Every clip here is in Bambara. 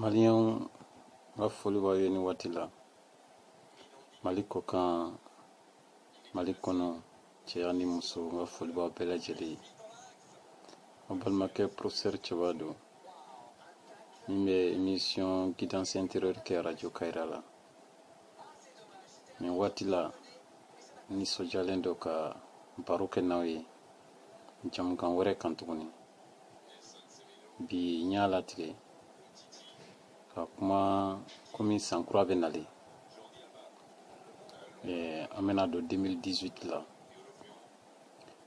Maliyɛnw n ka foli b'aw ye nin waati la mali kɔkan mali kɔnɔ cɛ ani muso n ka foli b'aw bɛɛ lajɛlen ye aw balimakɛ professeur cɛba don min bɛ émission guidance intérieure kɛ radio kayira la nin waati la n nisɔndiyalen don ka baro kɛ n'aw ye jamukan wɛrɛ kan tuguni bi n y'a latigɛ ka kuma komi san kura bɛ nalen eh, an bɛna don 2018 la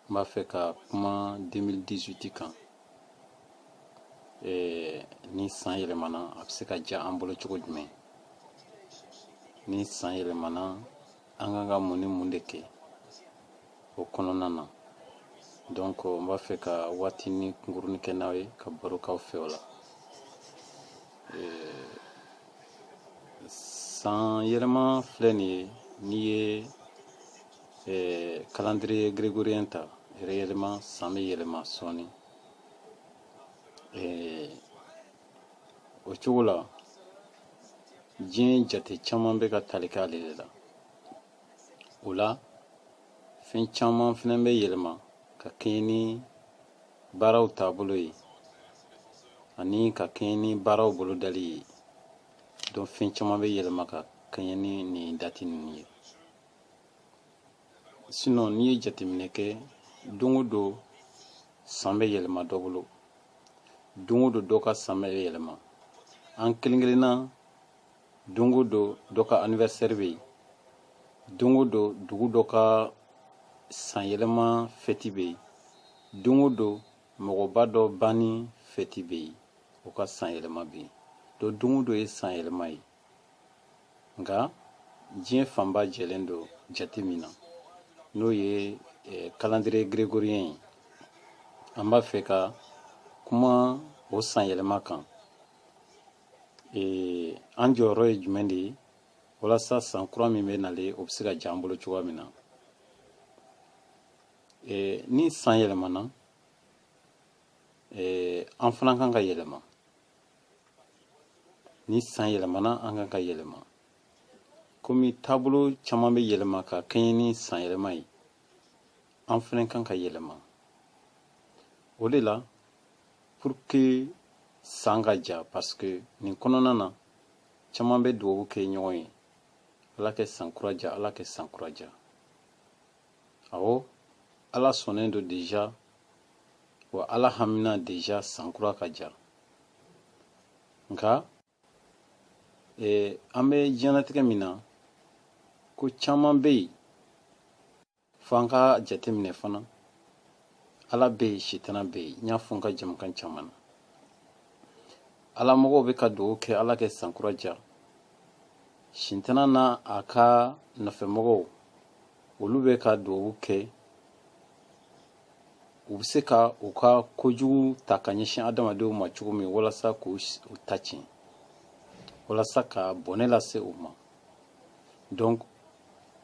n b'a fɛ ka kuma 2018 kan eh, ni san yɛlɛmana a bɛ se ka diya an bolo cogo jumɛn ni san yɛlɛmana an kan ka mun ni mun de kɛ o kɔnɔna na donc n b'a fɛ ka waatinin kunkurunin kɛ n'aw ye ka baro k'aw fɛ o la san yɛlɛma filɛ nin ye n'i ye eh, calendrier grégorien ta yɛrɛ yɛlɛma san bɛ yɛlɛma sɔɔni eh, o cogo la diɲɛ jate caman bɛ ka tali kɛ ale de la o la fɛn caman fana bɛ yɛlɛma ka kɛɲɛ ni baaraw taabolo ye ani ka kɛɲɛ ni baaraw bolodali ye donc fɛn caman bɛ yɛlɛma ka kɛɲɛ ni nin dati ninnu ye sinɔn n'i ye jateminɛ kɛ don o don san bɛ yɛlɛma dɔ bolo don o don dɔ ka san bɛ yɛlɛma an kelen kelenna don o don dɔ ka anniversaire bɛ yen don o don dugu dɔ ka san yɛlɛma fɛti bɛ yen don o don mɔgɔba dɔ banni fɛti bɛ yen o ka san yɛlɛma bɛ yen donc don o don ye san yɛlɛma ye nka diɲɛ fanba jɛlen don jate min na n'o ye eh, kalandire gregoriyɛn ye an b'a fɛ ka kuma o sanyɛlɛma kan eh, an jɔyɔrɔ ye jumɛn de ye walasa san kura min bɛ nalen o bɛ se ka diya an bolo cogoya min na eh, ni san yɛlɛmana an fana kan ka yɛlɛma ni san yɛlɛmana an kan ka yɛlɛma komi taabolo caman bɛ yɛlɛma ka kɛɲɛ ni san yɛlɛma ye an fana kan ka yɛlɛma o de la pour que san ka ja parce que nin kɔnɔna na caman bɛ dugawu kɛ ɲɔgɔn ye ala kɛ san kura ja ala kɛ san kura ja awɔ ala sɔnnen don déjà wa ala hamina déjà san kura ka ja nka an bɛ diɲɛnatigɛ min na ko caman bɛ yen fo an ka jateminɛ fana ala bɛ yen sitana bɛ yen n y'a fɔ n ka jɛmukan caman na ala mɔgɔw bɛ ka dugawu kɛ ala kɛ sankura ja sitana n'a ka nɔfɛmɔgɔw olu bɛ ka dugawu kɛ u bɛ se ka u ka kojugu ta ka ɲɛsin adamadenw ma cogo min walasa k'u ta tiɲɛ walasa ka bɔnɛ lase u ma donc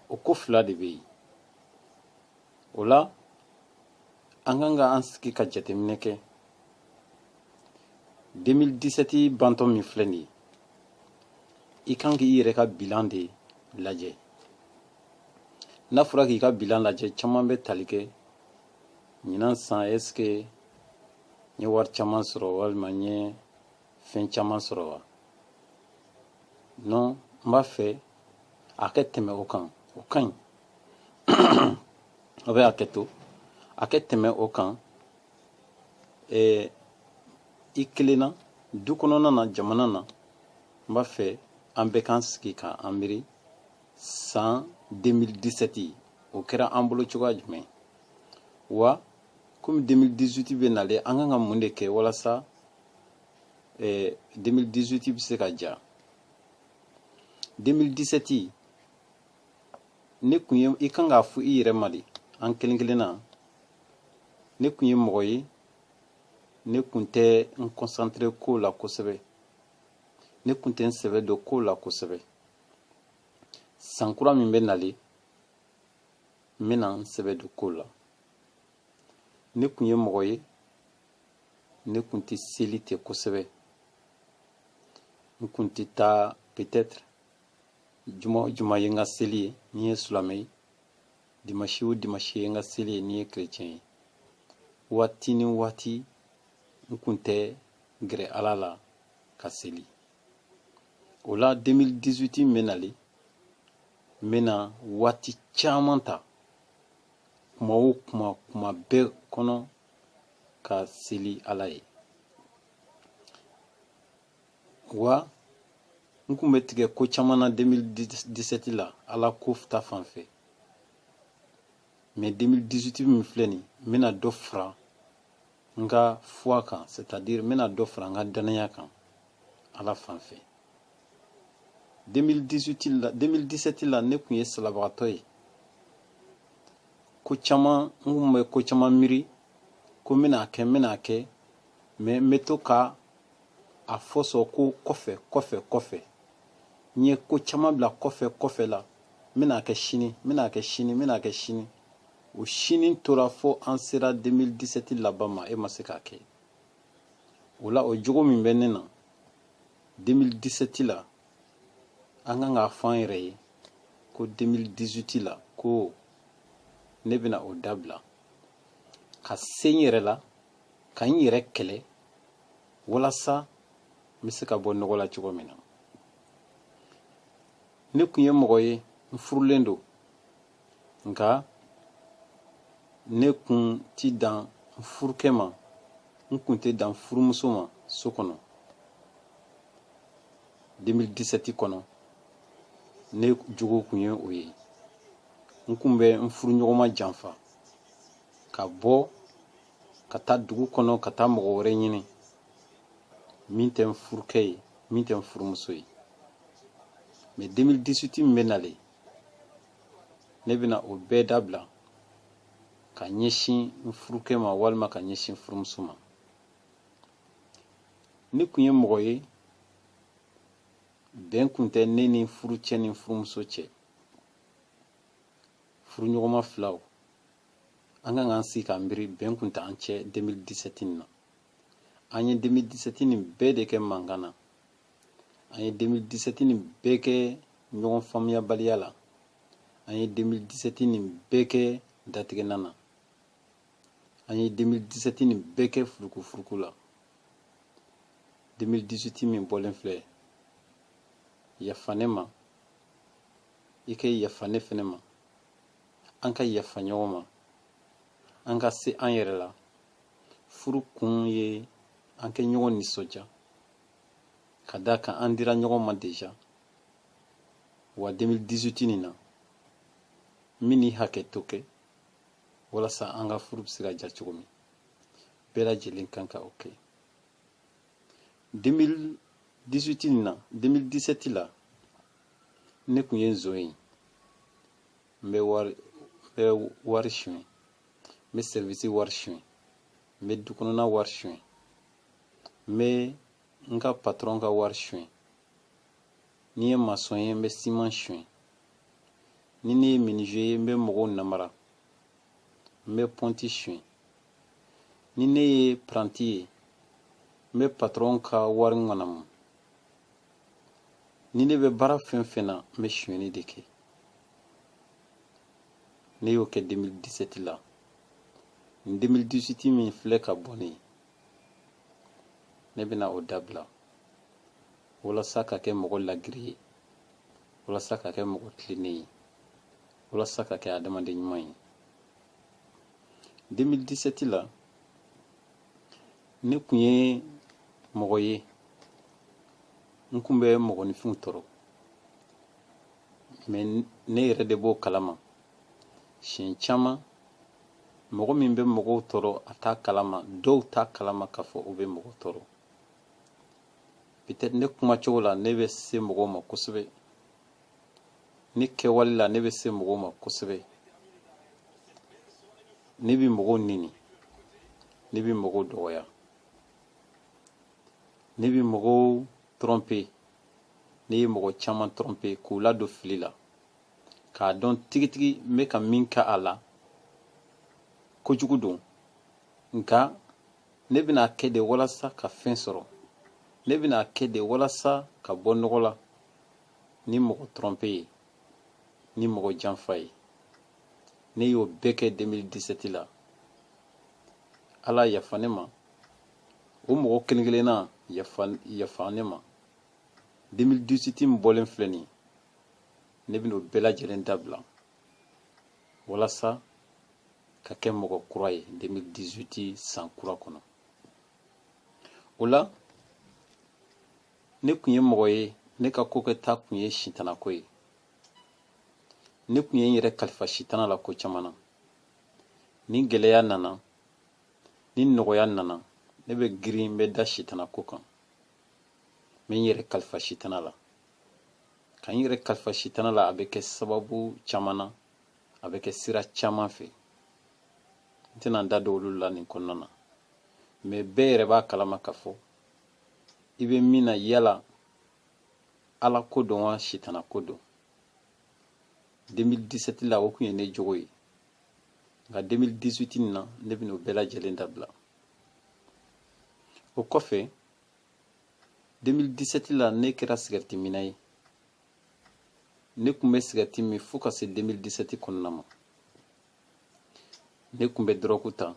o ko fila de bɛ yen o la an kan ka an sigi ka jateminɛ kɛ 2017 bantɔ min filɛ nin ye i kan k'i yɛrɛ ka bilan de lajɛ n'a fɔra k'i ka bilan lajɛ caman bɛ tali kɛ ɲinan san est-ce que n ye wari caman sɔrɔ walima n ye fɛn caman sɔrɔ wa non n b'a fɛ a kɛ tɛmɛ o kan o ka ɲi a bɛ a kɛ to a kɛ tɛmɛ o kan ɛɛ i kelenna du kɔnɔna na jamana na n b'a fɛ an bɛɛ k'an sigi k'an miiri san 2017 o kɛra an bolo cogoya jumɛn wa komi 2018 bɛ nalen an kan ka mun de kɛ walasa 2018 eh, bɛ se ka ja 2017 ne kun ye i kan k'a fɔ i yɛrɛ ma de an kelen kelen na ne kun ye mɔgɔ ye ne kun tɛ n concentrer ko la kosɛbɛ ne kun tɛ n sɛbɛ don ko la kosɛbɛ san kura min bɛ nalen n bɛna n sɛbɛ don ko la ne kun ye mɔgɔ ye ne kun tɛ seli kɛ kosɛbɛ n kun tɛ taa peut-être juma o juma ye n ka seli ye n'i ye silamɛ ye dimanche o dimanche ye n ka seli ye n'i ye chrétien ye waati ni waati n kun tɛ gɛrɛ ala la ka seli o la 2018 min bɛ nalen n bɛna waati caman ta kuma o kuma kuma bɛɛ kɔnɔ ka seli ala ye wa n kun bɛ tigɛ ko caman na 2017 la ala ko ta fan fɛ mais 2018 min filɛ nin n bɛna dɔ fara n ka foi kan c'est à dire n bɛna dɔ fara n ka dannaya kan ala fan fɛ 2018 la 2017 la ne kun ye salabagatɔ ye ko caman n kun bɛ ko caman miiri ko n bɛna kɛ n bɛna kɛ mais n bɛ to ka a fɔ sɔn ko kɔfɛ kɔfɛ kɔfɛ n ye ko caman bila kɔfɛ kɔfɛ la n bɛna kɛ sini n bɛna kɛ sini n bɛna kɛ sini o sini tora fo an sera 2017 laban ma e ma se k'a kɛ o la o jogo min bɛ ne na 2017 la an kan k'a fɔ an yɛrɛ ye ko 2018 la ko ne bɛna o dabila ka se n yɛrɛ la ka n yɛrɛ kɛlɛ walasa n bɛ se ka bɔ nɔgɔ la cogo min na ne kun ye mɔgɔ ye n furulen don nka ne kun ti dan n furukɛ ma n kun tɛ dan furumuso ma so kɔnɔ 2017 kɔnɔ ne jogo kun ye o ye n kun bɛ n furuɲɔgɔnma janfa ka bɔ ka taa dugu kɔnɔ ka taa mɔgɔ wɛrɛ ɲini min tɛ n furukɛ ye min tɛ n furumuso ye mais 2018 min bɛ nalen ne bɛna o bɛɛ dabila ka ɲɛsin n furukɛ ma walima ka ɲɛsin furumuso ma ne kun ye mɔgɔ ye bɛn kun tɛ ne ni furucɛ ni furumuso cɛ furuɲɔgɔnma filaw an kan k'an sigi k'an miiri bɛn kun t'an cɛ 2017 nin na an ye 2017 nin bɛɛ de kɛ mankan na an ye 2017 nin bɛɛ kɛ ɲɔgɔn faamuyabaliya la an ye 2017 nin bɛɛ kɛ datigɛna na an ye 2017 nin bɛɛ kɛ furukufuruku la 2018 min bɔlen filɛ yafa ne ma i ka yafa ne fɛnɛ ma an ka yafa ɲɔgɔn ma an ka se an yɛrɛ la furu kun ye an ka ɲɔgɔn nisɔndiya ka d'a kan an dira ɲɔgɔn ma deja wa 2018 nin na n bɛna hakɛto kɛ walasa an ka furu bɛ se ka diya cogo min bɛɛ lajɛlen kan ka o kɛ 2018 nin na 2017 la ne kun ye nson ye n bɛ wari n bɛ wari suɲɛ n bɛ sɛrivisi wari suɲɛ n bɛ du kɔnɔna wari suɲɛ n bɛ n ka patɔrɔn ka wari suɲɛ ni n ye masɔn ye n bɛ siman suɲɛ ni ne ye minize ye n bɛ mɔgɔw namara n bɛ pɔnti suɲɛ ni ne ye paranti ye n bɛ patɔrɔn ka wari ŋanamu ni ne bɛ baara fɛn fɛn na n bɛ suɲɛni de kɛ ne y'o kɛ 2017 la nin 2018 min filɛ ka bɔ nin ye ne bɛna o dabila walasa ka kɛ mɔgɔ lagiri ye walasa ka kɛ mɔgɔ tilennen ye walasa ka kɛ adamaden ɲuman ye 2017 la ne kun ye mɔgɔ ye n kun bɛ mɔgɔninfinw tɔɔrɔ mais ne yɛrɛ de b'o kalama siɲɛ caman mɔgɔ min bɛ mɔgɔw tɔɔrɔ a t'a kalama dɔw t'a kalama k'a fɔ u bɛ mɔgɔ tɔɔrɔ peut-être ne kuma cogo la ne bɛ se mɔgɔw ma kosɛbɛ ne kɛwale la ne bɛ se mɔgɔw ma kosɛbɛ ne bɛ mɔgɔw neni ne bɛ mɔgɔw dɔgɔya ne bɛ mɔgɔw tromper ne ye mɔgɔ caman tromper k'u ladon fili la k'a dɔn tigitigi n bɛ ka min kɛ a la kojugu don nka ne bɛn'a kɛ de walasa ka fɛn sɔrɔ ne bɛn'a kɛ de walasa ka bɔ nɔgɔ la ni mɔgɔ tromper ye ni mɔgɔ janfa ye ne y'o bɛɛ kɛ 2017 la ala yafa ne ma o mɔgɔ kelen kelenna yafa ne ma 2018 bɔlen filɛ nin ye ne bɛn'o bɛɛ lajɛlen dabila walasa ka kɛ mɔgɔ kura ye 2018 san kura kɔnɔ o la ne kun ye mɔgɔ ye ne ka ko kɛta kun ye sitanako ye ne kun ye n yɛrɛ kalifa sitana la ko caman na ni gɛlɛya nana ni nɔgɔya nana ne bɛ girin n bɛ da sitanako kan n bɛ n yɛrɛ kalifa sitana la ka n yɛrɛ kalifa sitana la a bɛ kɛ sababu caman na a bɛ kɛ sira caman fɛ n tɛna n da don olu la nin kɔnɔna na mɛ bɛɛ yɛrɛ b'a kalama ka fɔ i bɛ min na yala ala ko don wa sitana ko don 2017 la o kun ye ne jogo ye nka 2018 nin na ne bɛna o bɛɛ lajɛlen dabila o kɔfɛ 2017 la ne kɛra sigɛriti minna ye ne kun bɛ sigɛriti min fo ka se 2017 kɔnɔna ma ne kun bɛ dɔrɔku ta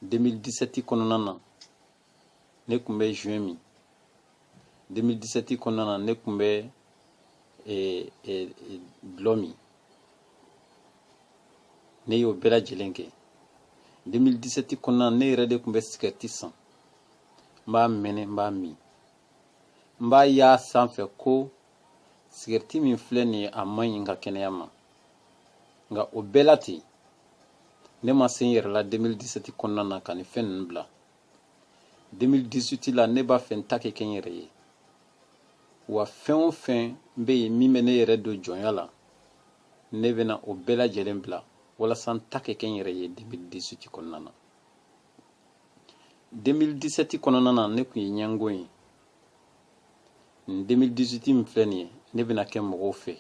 2017 kɔnɔna na ne kun bɛ joint min 2017 kɔnɔna na ne kun bɛ eh, eh, dɔlɔ min ne y'o bɛɛ lajɛlen kɛ 2017 kɔnɔna na ne yɛrɛ de kun bɛ sigɛriti san n b'a mɛnɛ n b'a min n b'a y'a sanfɛ ko sigɛriti min filɛ nin ye a man ɲi n ka kɛnɛya ma nka o bɛɛ la ten ne ma se n yɛrɛ la 2017 kɔnɔna na ka nin fɛn ninnu bila 2018 la ne b'a fɛ n ta ka kɛ n yɛrɛ ye wa fɛn o fɛn bɛ yen min bɛ ne yɛrɛ don jɔnya la ne bɛna o bɛɛ lajɛlen bila walasa n ta ka kɛ n yɛrɛ ye 2018 kɔnɔna na 2017 kɔnɔna na ne kun ye ɲɛngo ye nin 2018 min filɛ nin ye ne bɛna kɛ mɔgɔw fɛ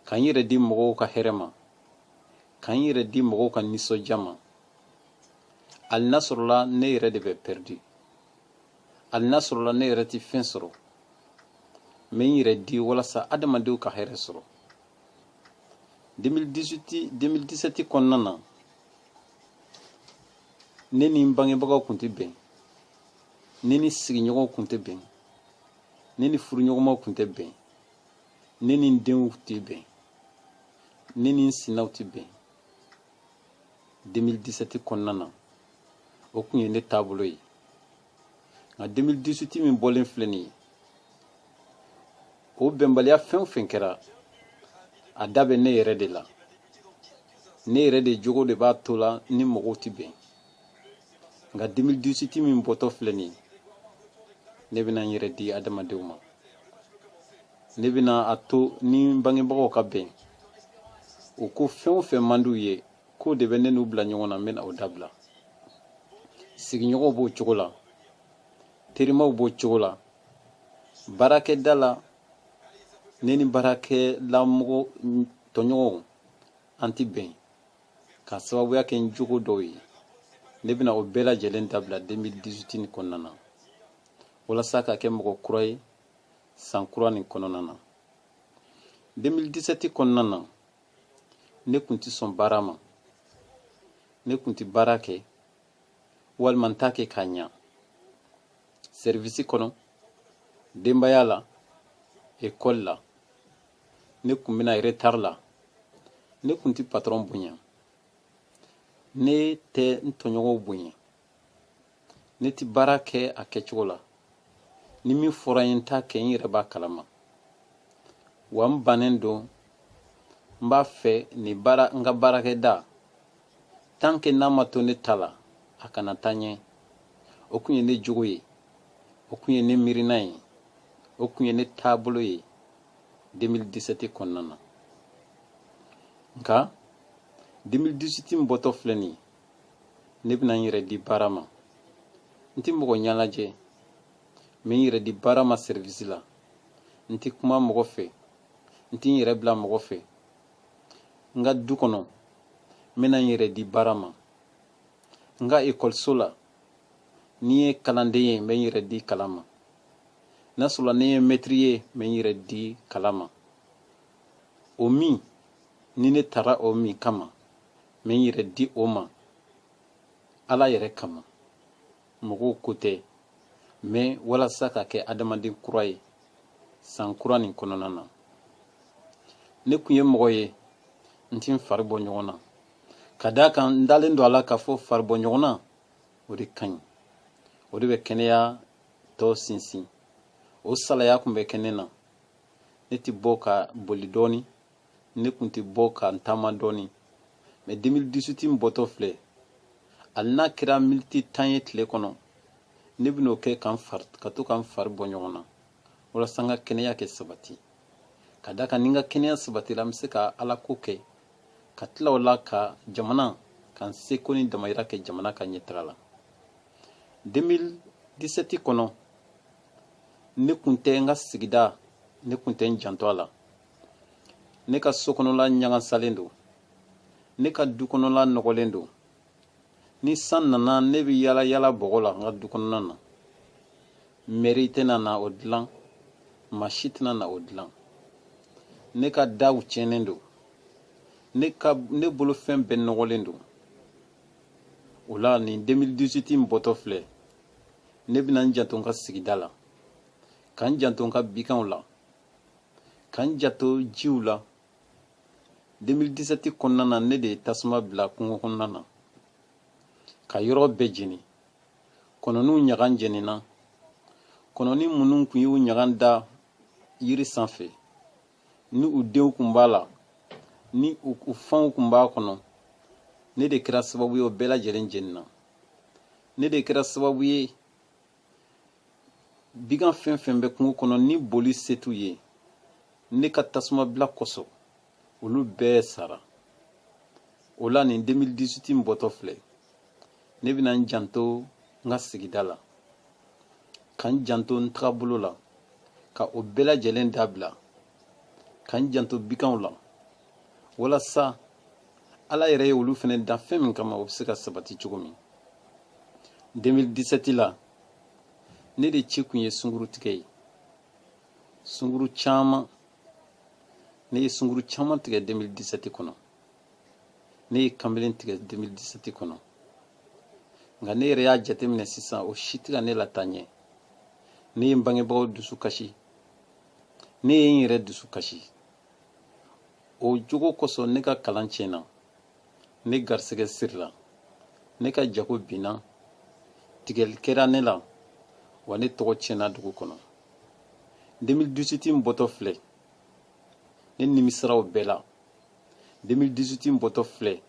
ka n yɛrɛ di mɔgɔw ka hɛrɛ ma ka n yɛrɛ di mɔgɔw ka nisɔndiya ma hali n'a sɔrɔla ne yɛrɛ de bɛ pɛridi hali n'a sɔrɔla ne yɛrɛ tɛ fɛn sɔrɔ n bɛ n yɛrɛ di walasa adamadenw ka hɛrɛ sɔrɔ 2018 2017 kɔnɔna na ne ni n bangebagaw kun tɛ bɛn ne ni sigiɲɔgɔnw kun tɛ bɛn ne ni furuɲɔgɔnmaw kun tɛ bɛn ne ni n denw tɛ bɛn ne ni n sinaw tɛ bɛn 2017 kɔnɔna na o kun ye ne taabolo ye nka 2018 min bɔlen filɛ nin ye o bɛnbaliya fɛn o fɛn kɛra a da bɛ ne yɛrɛ de la ne yɛrɛ de jogo de b'a to la n ni mɔgɔw tɛ bɛn nka 2018 min bɔtɔ filɛ nin ye ne bɛna n yɛrɛ di adamadenw ma ne bɛna a to n ni bangebagaw ka bɛn u ko fɛn o fɛn man d'u ye k'o de bɛ ne n'u bila ɲɔgɔn na n bɛna o dabila sigiɲɔgɔnw b'o cogo la terimaw b'o cogo la baarakɛda la ne ni baarakɛlamɔgɔ tɔɲɔgɔnw an tɛ bɛn ka sababuya kɛ n jogo dɔw ye ne bɛna o bɛɛ lajɛlen dabila 2018 nin kɔnɔna na walasa ka kɛ mɔgɔ kura ye san kura nin kɔnɔna na 2017 kɔnɔna na ne tun tɛ sɔn baara ma ne tun tɛ baara kɛ walima n t'a kɛ k'a ɲa sɛrivisi kɔnɔ denbaya la ekɔli la ne tun bɛ na retari la ne tun tɛ patɔrɔn bonya ne tɛ n tɔɲɔgɔnw bonya ne tɛ baara kɛ a kɛcogo la ni min fɔra n ye n t'a kɛ n yɛrɛ b'a kalama wa n bannen don n b'a fɛ nin baara n ka baarakɛda tant que n'a ma to ne ta la a kana taa ɲɛ o kun ye ne jogo ye o kun ye ne miirina ye o kun ye ne taabolo ye 2017 kɔnɔna na nka 2018 n bɔtɔ filɛ nin ye ne bɛna n yɛrɛ di baara ma n tɛ mɔgɔ ɲɛ lajɛ n bɛ n yɛrɛ di baara ma sɛrivisi la n tɛ kuma mɔgɔ fɛ n tɛ n yɛrɛ bila mɔgɔ fɛ n ka du kɔnɔ n bɛna n yɛrɛ di baara ma n ka ekɔliso la ni n ye kalanden ye n bɛ n yɛrɛ di kalan ma n'a sɔrɔla ne ye mɛtiri ye n bɛ n yɛrɛ di kalan ma o min ni ne taara o min kama n bɛ n yɛrɛ di o ma ala yɛrɛ kama mɔgɔw ko tɛ mɛ walasa ka kɛ adamaden kura ye san kura nin kɔnɔna na ne tun ye mɔgɔ ye n ti n fari bɔ ɲɔgɔn na ka d'a kan n dalen don a la k'a fɔ fari bɔ ɲɔgɔn na o de ka ɲi o de bɛ kɛnɛya tɔ sinsin o salaya tun bɛ kɛ ne na ne ti bɔ ka boli dɔɔni ne tun tɛ bɔ ka n taama dɔɔni mɛ 2018 n bɔtɔ filɛ hali n'a kɛra miniti tan ye tile kɔnɔ ne bɛn'o kɛ ka n fari ka to ka n fari bɔ ɲɔgɔn na walasa n ka kɛnɛya kɛ sabati ka d'a kan ni n ka kɛnɛya sabatira n bɛ se ka ala ko kɛ ka tila o la ka jamana ka n seko ni damayira kɛ jamana ka ɲɛtaga la 2017 kɔnɔ ne tun tɛ n ka sigida ne tun tɛ n janto a la ne ka so kɔnɔla ɲagasalen don ne ka du kɔnɔla nɔgɔlen don ni san nana ne bɛ yala yala bɔgɔ la n ka du kɔnɔna na mɛri tɛna na o dilan maa si tɛna na o dilan ne ka daw tiɲɛnen don ne ka ne bolofɛn bɛɛ nɔgɔlen don o la nin 2018 in bɔtɔ filɛ ne bɛna n janto n ka sigida la ka n janto n ka biganw la ka n janto jiw la 2017 kɔnɔna na ne de ye tasuma bila kungo kɔnɔna na ka yɔrɔ bɛɛ jeni kɔnɔniw ɲagan jenina kɔnɔni minnu tun y'u ɲagan da yiri sanfɛ ni u denw tun b'a la ni u fanw tun b'a kɔnɔ ne de kɛra sababu ye o bɛɛ lajɛlen jenina ne de kɛra sababu ye bigan fɛn fɛn bɛ kungo kɔnɔ ni boli se t'u ye ne ka tasuma bila kosɔn olu bɛɛ sara o la nin 2018 in bɔtɔ filɛ ne bɛna n janto n ka sigida la ka n janto n tagabolo la ka o bɛɛ lajɛlen dabila ka n janto biganw la walasa ala yɛrɛ ye olu fɛnɛ dan fɛn min kama o bɛ se ka sabati cogo min 2017 la ne de ci kun ye sungurutigɛ ye sunguru caman ne ye sunguru caman tigɛ 2017 kɔnɔ ne ye kanbelen tigɛ 2017 kɔnɔ nka ne yɛrɛ y'a jateminɛ sisan o si tɛ ka ne lataa ɲɛ ne ye n bangebagaw dusu kasi ne ye n yɛrɛ dusu kasi o jogo kosɔn ne ka kalan tiɲɛna ne garisɛgɛ sirila ne ka jago binna tigɛli kɛra ne la wa ne tɔgɔ tiɲɛna dugu kɔnɔ 2018 n bɔtɔ filɛ ne nimisara o bɛɛ la 2018 n bɔtɔ filɛ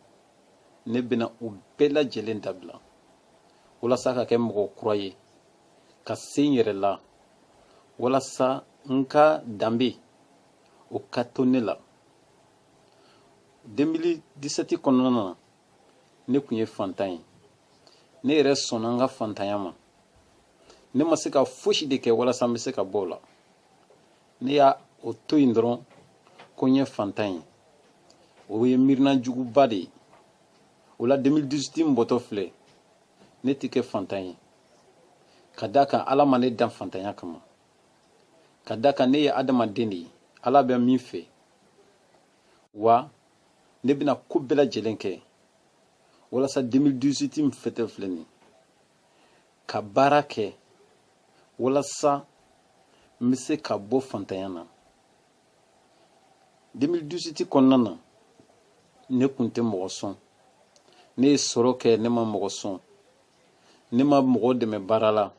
ne bɛna o bɛɛ lajɛlen dabila walasa ka kɛ mɔgɔ kura ye ka se n yɛrɛ la walasa n ka danbe o ka to ne la 2017 kɔnɔna na ne tun ye fantan ye ne yɛrɛ sɔnna n ka fantanya ma ne ma se ka fosi de kɛ walasa n bɛ se ka bɔ o la ne y'o to yen dɔrɔn ko n ye fantan ye o ye miirina juguba de ye o la 2018 n bɔtɔ filɛ ne tɛ kɛ fantan ye ka d'a kan ala ma ne dan fantanya kama ka d'a kan ne ye adamaden de ye ala bɛ min fɛ wa ne bɛna ko bɛɛ lajɛlen kɛ walasa 2018 min bɔtɔ filɛ nin ka baara kɛ walasa n bɛ se ka bɔ fantanya na 2018 kɔnɔna na ne kun tɛ mɔgɔ sɔn ne ye sɔrɔ kɛ ne ma mɔgɔ sɔn ne ma mɔgɔ dɛmɛ baara la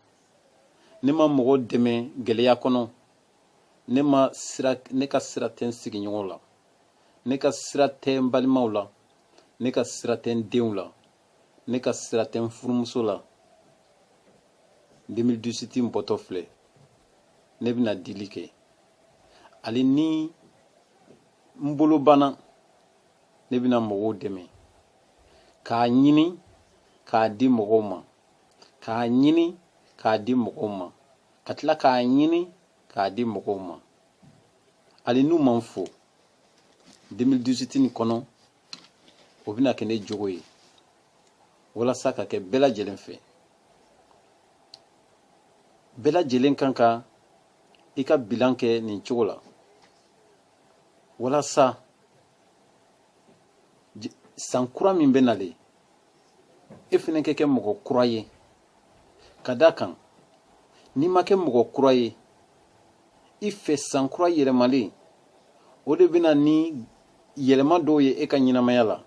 ne ma mɔgɔ dɛmɛ gɛlɛya kɔnɔ ne ma sira ne ka sira tɛ n sigiɲɔgɔnw la ne ka sira tɛ n balimaw la ne ka sira tɛ n denw la ne ka sira tɛ n furumuso la 2018 n bɔtɔ filɛ ne bɛna dili kɛ hali ni n bolo banna ne bɛna mɔgɔw dɛmɛ k'a ɲini k'a di mɔgɔw ma k'a ɲini k'a di mɔgɔw ma ka tila k'a ɲini k'a di mɔgɔw ma hali n'u ma n fo 2018 nin kɔnɔ o bɛna kɛ ne jogo ye walasa ka kɛ bɛɛ lajɛlen fɛ bɛɛ lajɛlen kan ka i ka bilan kɛ nin cogo la walasa san kura min bɛ nalen e fana ka kɛ mɔgɔ kura ye ka d'a kan n'i ma kɛ mɔgɔ kura ye i fɛ san kura yɛlɛmalen o de bɛ na ni yɛlɛma dɔw ye e ka ɲɛnamaya la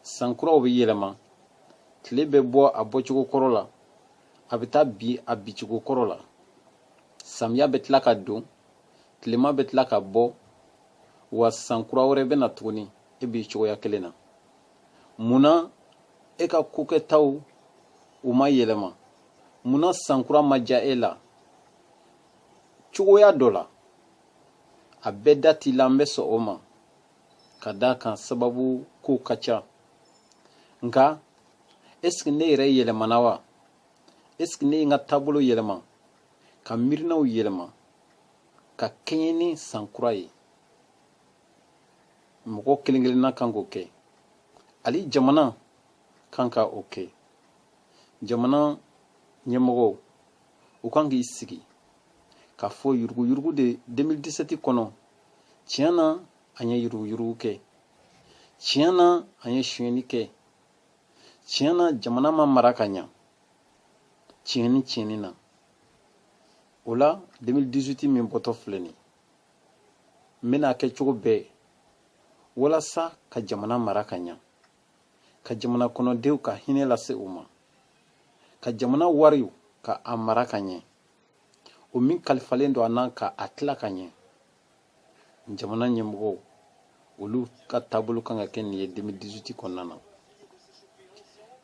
san kuraw bɛ yɛlɛma tile bɛ bɔ a bɔcogo kɔrɔ la a bɛ taa bin a bincogo kɔrɔ la samiya bɛ tila ka don tilema bɛ tila ka bɔ wa san kura wɛrɛ bɛ na tuguni e b'i cogoya kelen na mun na e ka kokɛtaw u ma yɛlɛma mun na sankura ma diya e la cogoya dɔ la a bɛɛ da t'i la n bɛ sɔn o ma ka d'a kan sababu kow ka ca nka esike ne yɛrɛ yɛlɛmana wa esike ne ye n ka taabolo yɛlɛma ka miirinaw yɛlɛma ka kɛɲɛ ni sankura ye mɔgɔ kelen kelenna kan k'o kɛ hali jamana kan ka o kɛ jamana ɲɛmɔgɔw u kan k'i sigi k'a fɔ yuruguyurugu de 2017 kɔnɔ tiɲɛ na an ye yuruguyurugu kɛ tiɲɛ na an ye sonyɛni kɛ tiɲɛ na jamana ma mara ka ɲa tiɲɛni tiɲɛni na o la 2018 min bɔtɔ filɛ nin n bɛna a kɛ cogo bɛɛ walasa ka jamana mara ka ɲa ka jamana kɔnɔdenw ka hinɛ lase u ma ka jamana wariw ka a mara ka ɲɛ o min kalifalen don an na ka a tila ka ɲɛ jamana ɲɛmɔgɔw olu ka taabolo kan ka kɛ nin ye 2018 kɔnɔna na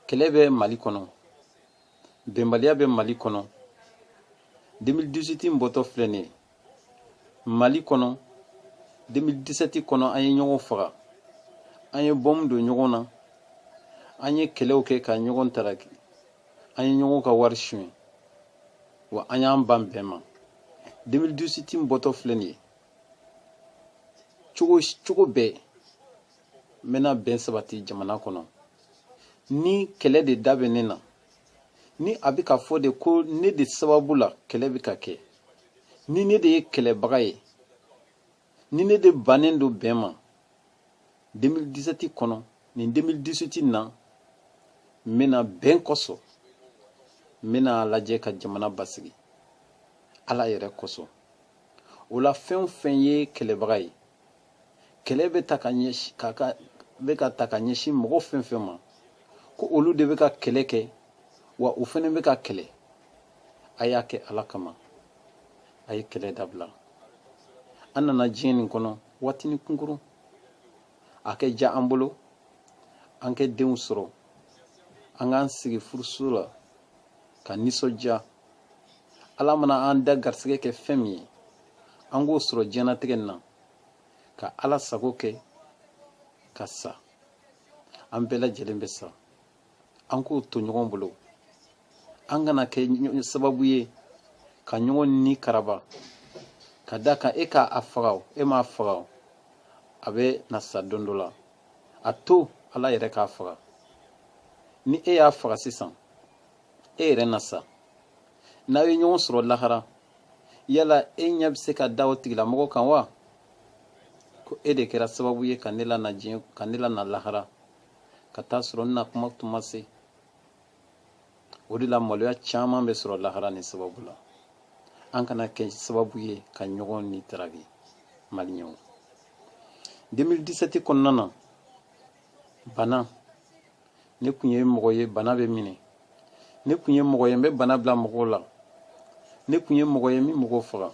kɛlɛ bɛ mali kɔnɔ bɛnbaliya bɛ mali kɔnɔ 2018 bɔtɔ filɛ nin ye mali kɔnɔ 2017 kɔnɔ an ye ɲɔgɔn faga an ye bɔmu don ɲɔgɔn na an ye kɛlɛw kɛ ka ɲɔgɔn taraki an ye ɲɔgɔn ka wari suɲɛ wa an y'an ban bɛn ma 2018 bɔtɔ filɛ nin ye cogo cogo bɛɛ n bɛna bɛn sabati jamana kɔnɔ ni kɛlɛ de da bɛ ne na ni a bɛ ka fɔ de ko ne de sababu la kɛlɛ bɛ ka kɛ ni ne de ye kɛlɛbaga ye ni ne de bannen don bɛn ma 2017 kɔnɔ nin 2018 na n bɛna bɛn kosɔn n bɛna a lajɛ ka jamana basigi ala yɛrɛ kosɔn o la fɛn o fɛn ye kɛlɛbaga ye kɛlɛ bɛ ta ka ɲɛsin ka ka bɛ ka ta ka ɲɛsin mɔgɔ fɛn fɛn ma ko olu de bɛ ka kɛlɛ kɛ wa u fana bɛ ka kɛlɛ a y'a kɛ ala kama a ye kɛlɛ dabila an nana diɲɛ nin kɔnɔ waatini kunkurun a ka diya an bolo an ka denw sɔrɔ an k'an sigi furuso la ka nisɔndiya ala mana an da garisɛgɛ kɛ fɛn min ye an k'o sɔrɔ diɲɛnatigɛ nin na ka ala sago kɛ ka sa an bɛɛ lajɛlen bɛ sa an k'o to ɲɔgɔn bolo an kana kɛ sababu ye ka ɲɔgɔn ni karaba ka d'a kan e k'a faga o e m'a faga o a bɛ na sa don dɔ la a to ala yɛrɛ k'a faga ni e y'a faga sisan e yɛrɛ na sa n'aw ye ɲɔgɔn sɔrɔ lahara yala e ɲɛ bɛ se ka da o tigilamɔgɔ kan wa ko e de kɛra sababu ye ka ne lana diɲɛ ka ne lana lahara ka taa sɔrɔ n na tuma tun ma se o de la maloya caman bɛ sɔrɔ lahara ni sababu la an kana kɛ sababu ye ka ɲɔgɔn ni taraki maliyɛnw 2017 kɔnɔna na bana ne tun ye mɔgɔ ye bana bɛ minɛ ne tun ye mɔgɔ ye n bɛ bana bila mɔgɔw la ne tun ye mɔgɔ ye min mɔgɔw faga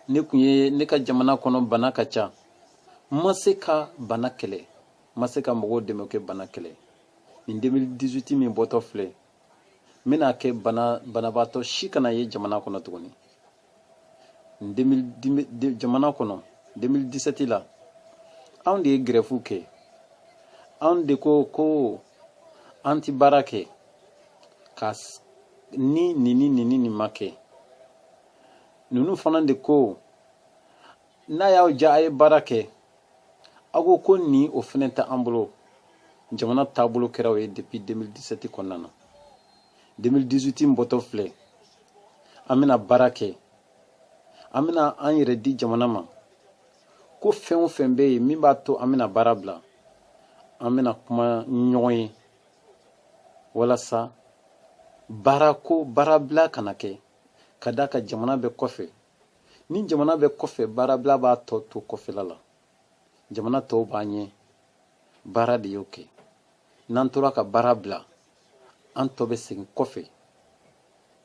ne tun ye ne ka jamana kɔnɔ bana ka ca n ma se ka bana kɛlɛ n ma se ka mɔgɔw dɛmɛ ka bana kɛlɛ nin 2018 min bɔtɔ filɛ n bɛna kɛ bana banabaatɔ si kana ye jamana kɔnɔ tuguni jamana kɔnɔ 2017 la anw de ye gɛrɛfu kɛ anw de ko ko an ti baara kɛ ka ni nin ni nin ni nin ma kɛ ninnu fana de ko n'a y'aw ja a ye baara kɛ aw ko ko nin o fɛnɛ tɛ an bolo jamana taabolo kɛra o ye depuis 2017 kɔnɔna na 2018 in bɔtɔ filɛ an bɛna baara kɛ an bɛna an yɛrɛ di jamana ma ko fɛn o fɛn bɛ yen min b'a to an bɛna baara bila an bɛna kuma ɲɔgɔn ye walasa baarako baarabila kana kɛ ka d'a kan jamana bɛ kɔfɛ ni jamana bɛ kɔfɛ baarabila b'a tɔ to kɔfɛla la jamana tɔw b'a ɲɛ baara de y'o kɛ n'an tora ka baara bila an tɔ bɛ segin kɔfɛ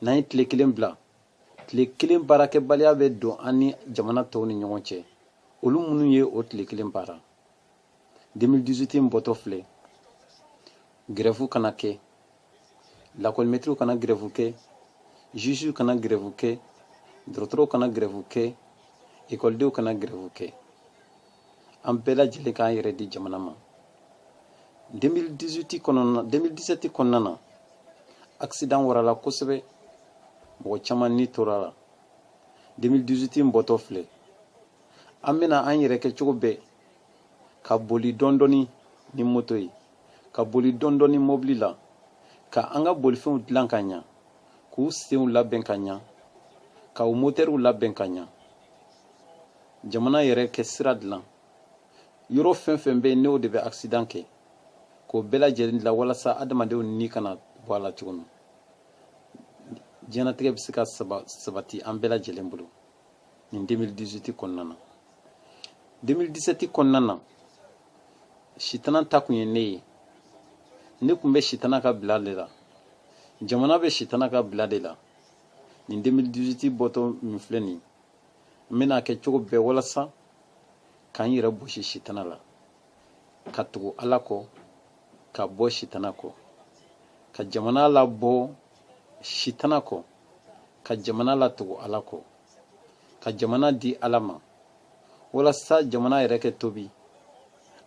n'an ye tile kelen bila tile kelen baarakɛbaliya bɛ don an ni jamana tɔw ni ɲɔgɔn cɛ olu minnu ye o tile kelen baara 2018 in bɔtɔ filɛ grève kana kɛ lakɔli mɛtiriw kana grève kɛ juge kana grève kɛ dɔgɔtɔrɔw kana grève kɛ ekɔlidenw kana grève kɛ an bɛɛ lajɛlen k'an yɛrɛ di jamana ma 2018 kɔnɔna 2017 kɔnɔna na accident warala kosɛbɛ mɔgɔ caman ni tora la 2018 in bɔtɔ filɛ an bɛna an yɛrɛ kɛ cogo bɛɛ ka boli dɔɔni dɔɔni ni moto ye ka boli dɔɔni dɔɔni mobili la ka an ka bolifɛnw dilan ka ɲa k'u senw labɛn ka ɲa ka u motɛriw labɛn ka ɲa jamana yɛrɛ kɛ sira dilan yɔrɔ fɛn fɛn bɛ yen n'o de bɛ akisidan kɛ k'o bɛɛ lajɛlen dilan walasa adamadenw ni kana bɔ a la cogo min diɲɛnatigɛ bɛ se ka sabati an bɛɛ lajɛlen bolo nin 2018 kɔnɔna na 2017 kɔnɔna na sitana ta kun ye ne ye ne kun bɛ sitana ka bila de la jamana bɛ sitana ka bila de la nin 2018 bɔtɔ min filɛ nin n bɛna a kɛ cogo bɛɛ walasa ka n yɛrɛ bɔsi sitana la ka tugu ala kɔ ka bɔ sitana kɔ ka jamana labɔ sitana kɔ ka jamana latugu ala kɔ ka jamana di ala ma walasa jamana yɛrɛ kɛ tuubi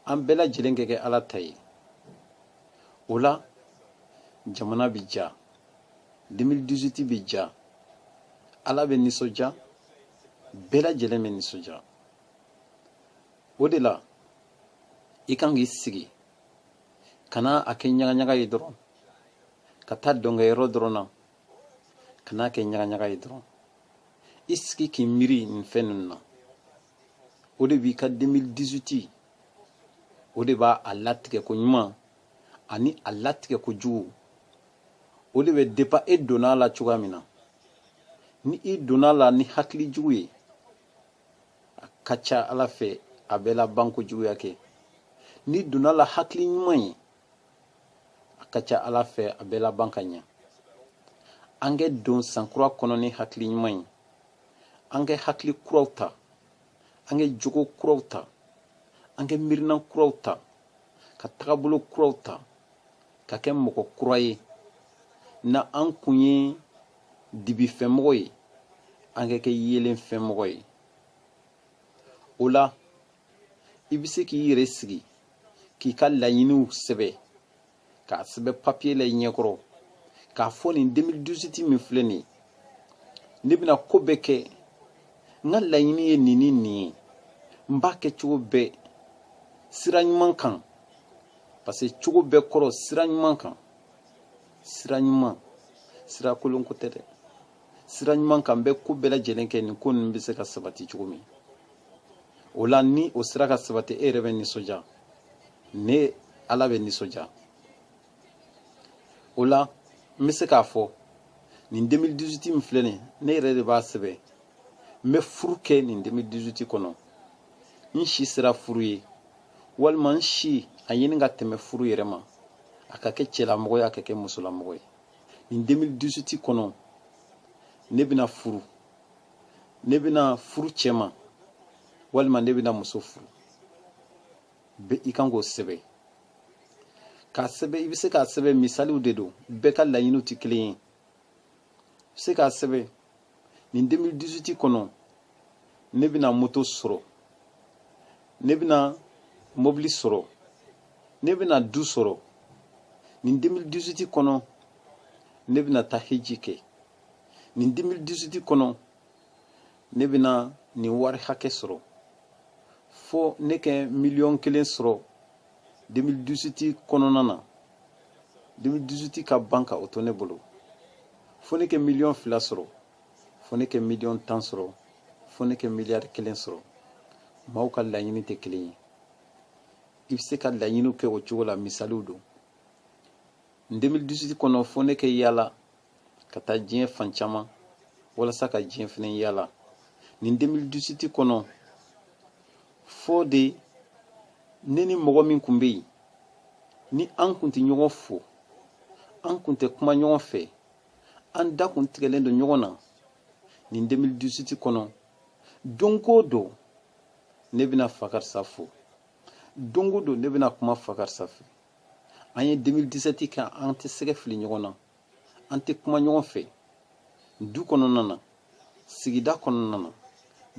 an bɛɛ lajɛlen kɛ kɛ ala ta ye o la jamana bɛ diya 2018 bɛ diya ala bɛ nisɔndiya bɛɛ lajɛlen bɛ nisɔndiya o de la i kan k'i sigi kana a kɛ ɲagaɲaga ye dɔrɔn ka taa dɔnkɛyɔrɔ dɔrɔn na ka n'a kɛ ɲagaɲaga ye dɔrɔn i sigi k'i miiri nin fɛn ninnu na o de b'i ka 2018 o de b'a a latigɛ ko ɲuman ani a latigɛ ko jugu o de bɛ dépend i donna a la cogoya min na ni i donna a la ni hakili jugu ye a ka ca ala fɛ a bɛ laban ko juguya kɛ n'i donna a la hakili ɲuman ye a ka ca ala fɛ a bɛ laban ka ɲɛ an kɛ don sankura kɔnɔ ni hakili ɲuman ye an kɛ hakili kuraw ta an kɛ jogo kuraw ta an kɛ miirinan kuraw ta ka tagabolo kuraw ta ka kɛ mɔgɔ kura ye na an kun ye dibifɛmɔgɔ ye an ka kɛ yeelenfɛmɔgɔ ye o la i bɛ se k'i yɛrɛ sigi k'i ka laɲiniw sɛbɛn k'a sɛbɛn papiye la i ɲɛkɔrɔ k'a fɔ nin 2018 min filɛ nin ne bɛna ko bɛɛ kɛ n ka laɲini ye nin ni nin ye n b'a kɛ cogo bɛɛ sira ɲuman kan parce que cogo bɛɛ kɔrɔ sira ɲuman kan sira ɲuman sira kolon ko tɛ dɛ sira ɲuman kan n bɛ ko bɛɛ lajɛlen kɛ nin ko ninnu bɛ se ka sabati cogo min o la ni o sera ka sabati e yɛrɛ bɛ nisɔndiya ne ala bɛ nisɔndiya o la n bɛ se k'a fɔ nin 2018 min filɛ nin ne yɛrɛ de b'a sɛbɛn n bɛ furu kɛ nin 2018 kɔnɔ n si sera furu ye walima n si a ɲini ka tɛmɛ furu yɛrɛ ma a ka kɛ cɛlamɔgɔ ye a ka kɛ musolamɔgɔ ye nin 2018 kɔnɔ ne bɛna furu ne bɛna furu cɛ ma walima ne bɛna muso furu bɛ i kan k'o sɛbɛn k'a sɛbɛn i bɛ se k'a sɛbɛn misaliw de don bɛɛ ka laɲiniw tɛ kelen ye i bɛ se k'a sɛbɛn nin 2018 kɔnɔ ne bɛna moto sɔrɔ ne bɛna mobili sɔrɔ ne bɛna du sɔrɔ nin 2018 kɔnɔ ne bɛna taa heji kɛ nin 2018 kɔnɔ ne bɛna nin wari hakɛ sɔrɔ fo ne kɛ miliyɔn kelen sɔrɔ 2018 kɔnɔna na 2018 ka ban ka o to ne bolo fo ne kɛ miliyɔn fila sɔrɔ fo ne kɛ miliyɔn tan sɔrɔ fo ne kɛ miliyari kelen sɔrɔ maaw ka laɲini tɛ kelen ye i bɛ se ka laɲiniw kɛ o cogo la misaliw don nin 2018 kɔnɔ fo ne kɛ yaala ka taa diɲɛ fan caman walasa ka diɲɛ fana yaala nin 2018 kɔnɔ fo de ne ni mɔgɔ min kun bɛ yen ni an kun tɛ ɲɔgɔn fo an kun tɛ kuma ɲɔgɔn fɛ an da kun tigɛlen don ɲɔgɔn na nin 2018 kɔnɔ don o don ne bɛna fakarisa fo don o don ne bɛna kuma fakarisa fɛ an ye 2017 kɛ an tɛ sɛgɛ fili ɲɔgɔn na an tɛ kuma ɲɔgɔn fɛ du kɔnɔna na sigida kɔnɔna na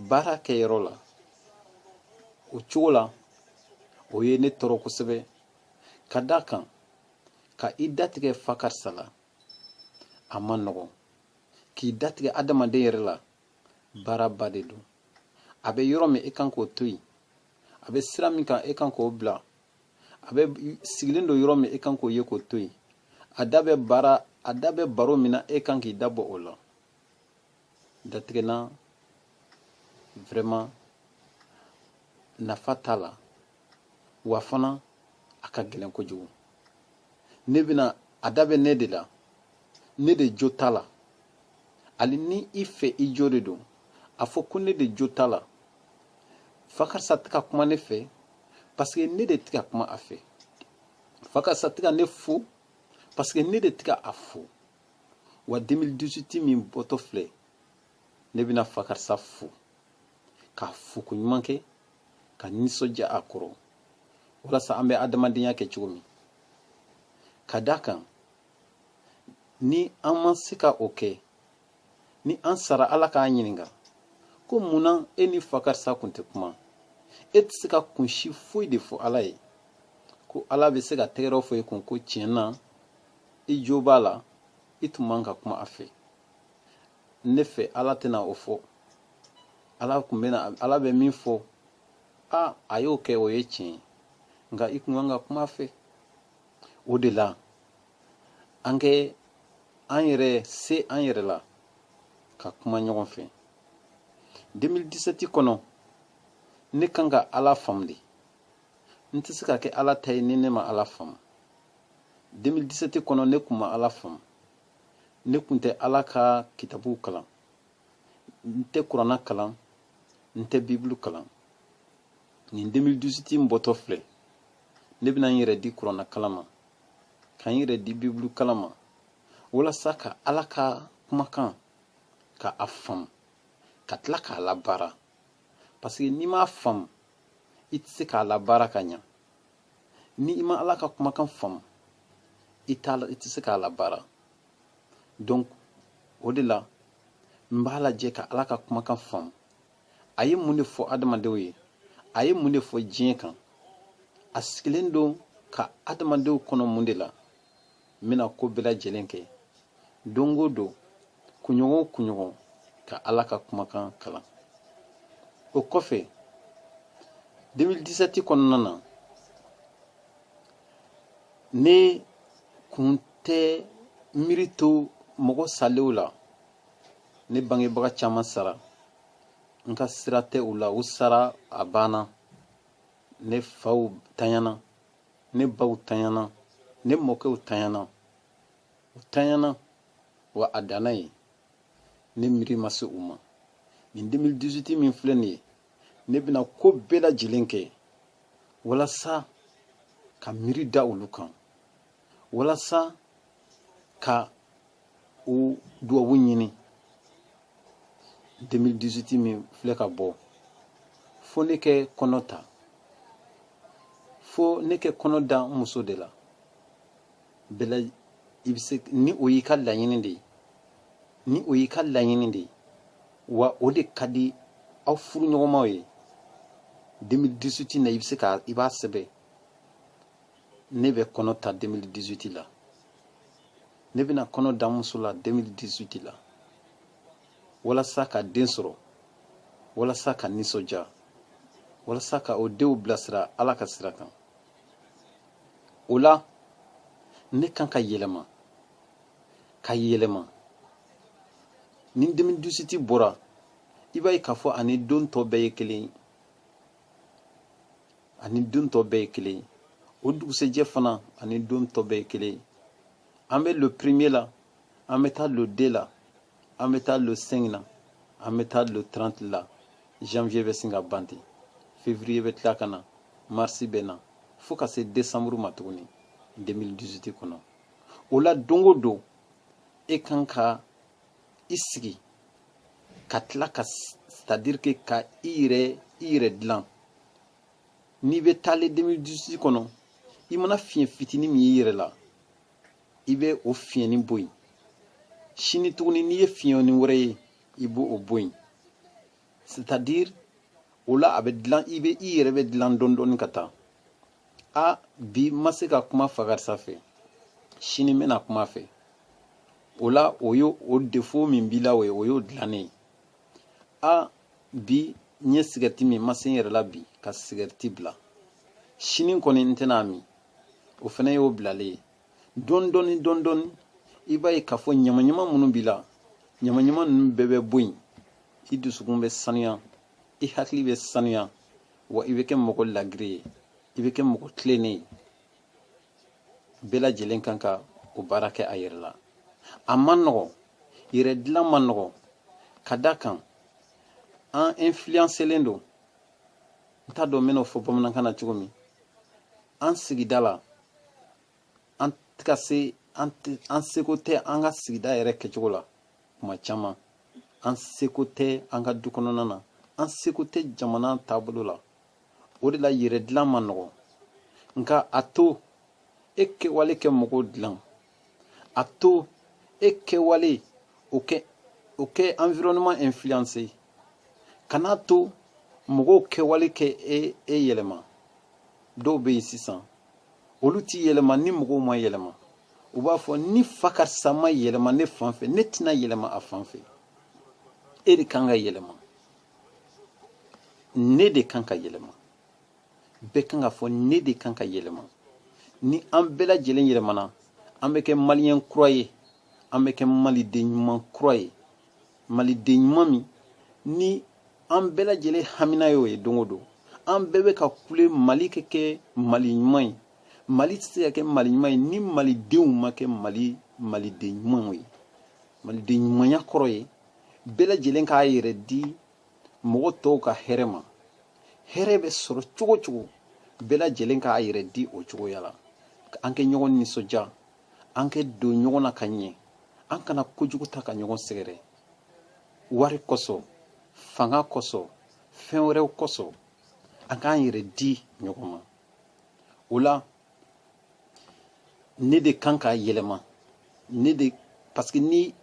baara kɛyɔrɔ la o cogo la o ye ne tɔɔrɔ kosɛbɛ ka d'a kan ka i datigɛ fakarisa la a man nɔgɔn k'i datigɛ adamaden yɛrɛ la baaraba de don a bɛ yɔrɔ min e kan k'o to yen a bɛ sira min kan e kan k'o bila a bɛ sigilen don yɔrɔ min e kan k'o ye k'o to yen a da bɛ baara a da bɛ baro min na e kan k'i da bɔ o la datigɛ la vraiment nafa t'a la wa fana a ka gɛlɛn kojugu ne bɛna a da bɛ ne de la ne de jo t'a la hali ni i fɛ i jo de don a fɔ ko ne de jo t'a la fakarisa tɛ ka kuma ne fɛ parce que ne de tɛ ka kuma a fɛ fakarisa tɛ ka ne fo parce que ne de tɛ ka a fo wa 2018 min bɔtɔ filɛ ne bɛna fakarisa fo k'a fo koɲuman kɛ ka nisɔndiya a kɔrɔ walasa an bɛ adamadenya kɛ cogo min ka d'a kan ni an ma se ka o kɛ ni an sara ala k'an ɲininka ko mun na e ni fakarisa kun tɛ kuma e tɛ se ka kun si foyi de fɔ ala ye ko ala bɛ se ka tɛgɛrɛ fɔ e kun ko tiɲɛ na i jo b'a la i tun man kan ka kuma a fɛ ne fɛ ala tɛna o fɔ ala kun bɛna ala bɛ min fɔ a a y'o kɛ o ye tiɲɛ ye nka i kun kan ka kuma a fɛ o de la an kɛ an yɛrɛ se an yɛrɛ la ka kuma ɲɔgɔn fɛ 2017 kɔnɔ ne kan ka ala faamu de n tɛ se ka kɛ ala ta ye ni ne ma ala faamu 2017 kɔnɔ ne kun ma ala faamu ne kun tɛ ala ka kitabuw kalan n tɛ kuranna kalan n tɛ bibulu kalan nin 2018 n bɔtɔ filɛ ne bɛna n yɛrɛ di kuranna kalan ma ka n yɛrɛ di bibulu kalan ma walasa ka ala ka kumakan ka a faamu ka tila k'a labaara paseke n'i m'a faamu i tɛ se k'a labaara ka ɲa ni i ma ala ka kumakan faamu i t'a la i tɛ se k'a labaara donc o de la n b'a lajɛ ka ala ka kumakan faamu a ye mun de fɔ adamadenw ye a ye mun de fɔ diɲɛ kan a sigilen don ka adamadenw kɔnɔ mun de la n bɛna ko bɛɛ lajɛlen kɛ don o don kunɲɔgɔn o kunɲɔgɔn ka ala ka kumakan kalan o kɔfɛ 2017 kɔnɔna na ne kun tɛ miiri to mɔgɔ salenw la ne bangebaga caman sara n ka sira tɛ u la u sara a banna ne faw tanyana ne baw tanyana ne mɔkɛw tanyana u tanyana wa a danna yen ne miiri ma se u ma nin 2018 min filɛ nin ye ne bɛna ko bɛɛ lajɛlen kɛ walasa ka miiri da olu kan walasa ka u dubabu ɲini 2018 min filɛ ka bɔ fo ne ka kɔnɔ ta fo ne ka kɔnɔ da n muso de la voilà i bɛ se ni o y'i ka laɲini de ye ni o y'i ka laɲini de ye wa o de ka di aw furuɲɔgɔnmaw ye 2018 na i bɛ se ka i b'a sɛbɛn ne bɛ kɔnɔ ta 2018 la ne bɛna kɔnɔ da n muso la 2018 la walasa ka den sɔrɔ walasa ka nisɔndiya walasa ka o denw bilasira ala ka sira kan o la ne kan ka yɛlɛma ka yɛlɛma ni 2018 bɔra i b'a ye k'a fɔ a ni don tɔ bɛɛ ye kelen ye a ni don tɔ bɛɛ ye kelen ye o dugusɛjɛ fana a ni don tɔ bɛɛ ye kelen ye an bɛ le premier la an bɛ taa le deux la an bɛ taa le cinq na an bɛ taa le trente la janvier bɛ sin ka ban ten février bɛ tila ka na mars bɛ na fo ka se décembre ma tuguni 2018 kɔnɔ o la don o don e kan ka i sigi ka tila ka c'est-à-dire que ka i yɛrɛ i yɛrɛ dilan n'i bɛ taa le 2018 kɔnɔ i mana fiɲɛ fitini min y'i yɛrɛ la i bɛ o fiɲɛni bɔ yen sini tuguni n'i ye fiɲɛni wɛrɛ ye i bɛ o bɔ yen c'est-à-dire o la a bɛ dilan i bɛ i yɛrɛ bɛ dilan dɔɔni dɔɔni ka taa a bi n ma se ka kuma fa karisa fɛ sini n bɛna kuma a fɛ o la o y'o o défaut min b'i la o ye o y'o dilannen ye a bi n ye sigɛriti min n ma se n yɛrɛ la bi ka sigɛriti bila sini kɔni n tɛna a min o fana y'o bilalen ye dɔɔni dɔɔni dɔɔni dɔɔni i b'a ye k'a fɔ ɲamaɲama minnu b'i la ɲamaɲama ninnu bɛɛ bɛ bɔ yen i dusukun bɛ sanuya i hakili bɛ sanuya wa i bɛ kɛ mɔgɔ ladiri ye i bɛ kɛ mɔgɔ tilennen ye bɛɛ lajɛlen kan ka o baara kɛ a yɛrɛ la a man nɔgɔ yɛrɛ dilan man nɔgɔ ka d'a kan an influencelen don n t'a dɔn n bɛn'o fɔ bamanankan na cogo min an sigida la an tɛ ka se an seko tɛ an ka sigida yɛrɛ kɛcogo la kuma caman an seko tɛ an ka du kɔnɔna na an seko tɛ jamana taabolo la o de la yɛrɛ dilan man nɔgɔ nka a to e kɛwale kɛ mɔgɔw dilan a to e kɛwale o kɛ o kɛ environnement influence kan'a to mɔgɔw kɛwale kɛ e e yɛlɛma dɔw bɛ yen sisan olu tɛ yɛlɛma ni mɔgɔw ma yɛlɛma u b'a fɔ ni fa karisa ma yɛlɛma ne fan fɛ ne tɛna yɛlɛma a fan fɛ e de kan ka yɛlɛma ne de kan ka yɛlɛma bɛɛ kan k'a fɔ ne de kan ka yɛlɛma ni an bɛɛ lajɛlen yɛlɛmana an bɛ kɛ maliyɛn kura ye an bɛ kɛ maliden ɲuman kura ye maliden ɲuman min ni an bɛɛ lajɛlen hamina y'o ye don o don an bɛɛ bɛ ka kule mali ka kɛ mali ɲuman ye mali tɛ se ka kɛ mali ɲuman ye ni malidenw ma kɛ mali maliden ɲumanw ye maliden ɲumanya kɔrɔ ye bɛɛ lajɛlen k'a yɛrɛ di mɔgɔ tɔw ka hɛrɛ ma hɛrɛ bɛ sɔrɔ cogo o cogo bɛɛ lajɛlen k'a yɛrɛ di o cogoya la an kɛ ɲɔgɔn nisɔndiya an kɛ don ɲɔgɔn na ka ɲɛ an kana kojugu ta ka ɲɔgɔn sɛgɛrɛ wari kosɔn fanga kosɔn fɛn wɛrɛw kosɔn an k'an yɛrɛ di ɲɔgɔn ma o la ne de kan ka yɛlɛma ne de parce que ni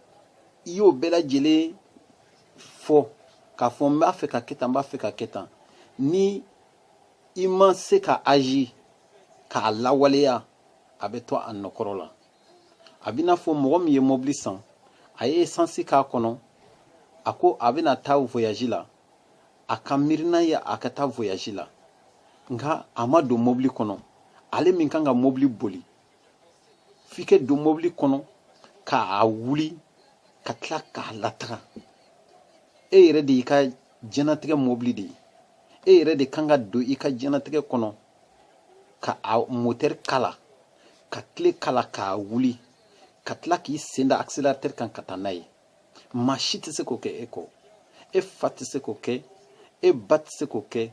i y'o bɛɛ lajɛlen fɔ k'a fɔ n b'a fɛ ka kɛ tan n b'a fɛ ka kɛ tan ni i ma se ka agir k'a lawaleya a bɛ to a nɔ kɔrɔ la a b'i n'a fɔ mɔgɔ min ye mɔbili san a ye esansi k'a kɔnɔ a ko a bɛna taa voyaji la a ka miirina ye a ka taa voyaji la nka a ma don mɔbili kɔnɔ ale min kan ka mɔbili boli f'i ka don mɔbili kɔnɔ k'a wuli ka tila k'a lataga e yɛrɛ de y'i ka diɲɛnatigɛ mɔbili de ye e yɛrɛ de kan ka don i ka diɲɛnatigɛ kɔnɔ ka a motɛri kala ka tile kala k'a wuli ka tila k'i sen da accélérateur kan ka taa n'a ye maa si tɛ se k'o kɛ e kɔ e fa tɛ se k'o kɛ e ba tɛ se k'o kɛ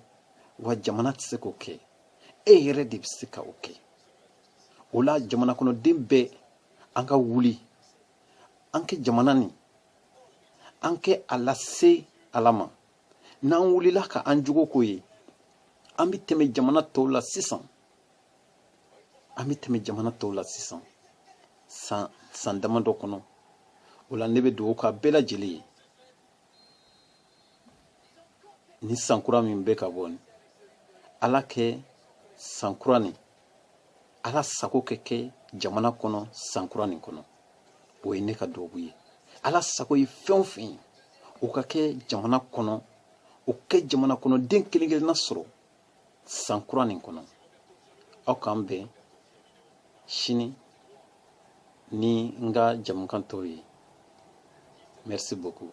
wa jamana tɛ se k'o kɛ e yɛrɛ de bɛ se ka o kɛ o la jamana kɔnɔden bɛɛ an ka wuli an ka jamana nin an ka a lase ala ma n'an wulila ka an jogo ko ye an bɛ tɛmɛ jamana tɔw la sisan an bɛ tɛmɛ jamana tɔw la sisan san san damadɔ kɔnɔ o la ne bɛ dugawu k'a bɛɛ lajɛlen ye nin san kura min bɛ ka bɔ nin ala ka san kura nin ala sago ka kɛ jamana kɔnɔ sankura nin kɔnɔ o ye ne ka dubabu ye ala sago ye fɛn o fɛn ye o ka kɛ jamana kɔnɔ o ka jamana kɔnɔden kelen kelenna sɔrɔ sankura nin kɔnɔ aw k'an bɛn sini ni n ka jamukan tɔw ye merci beaucoup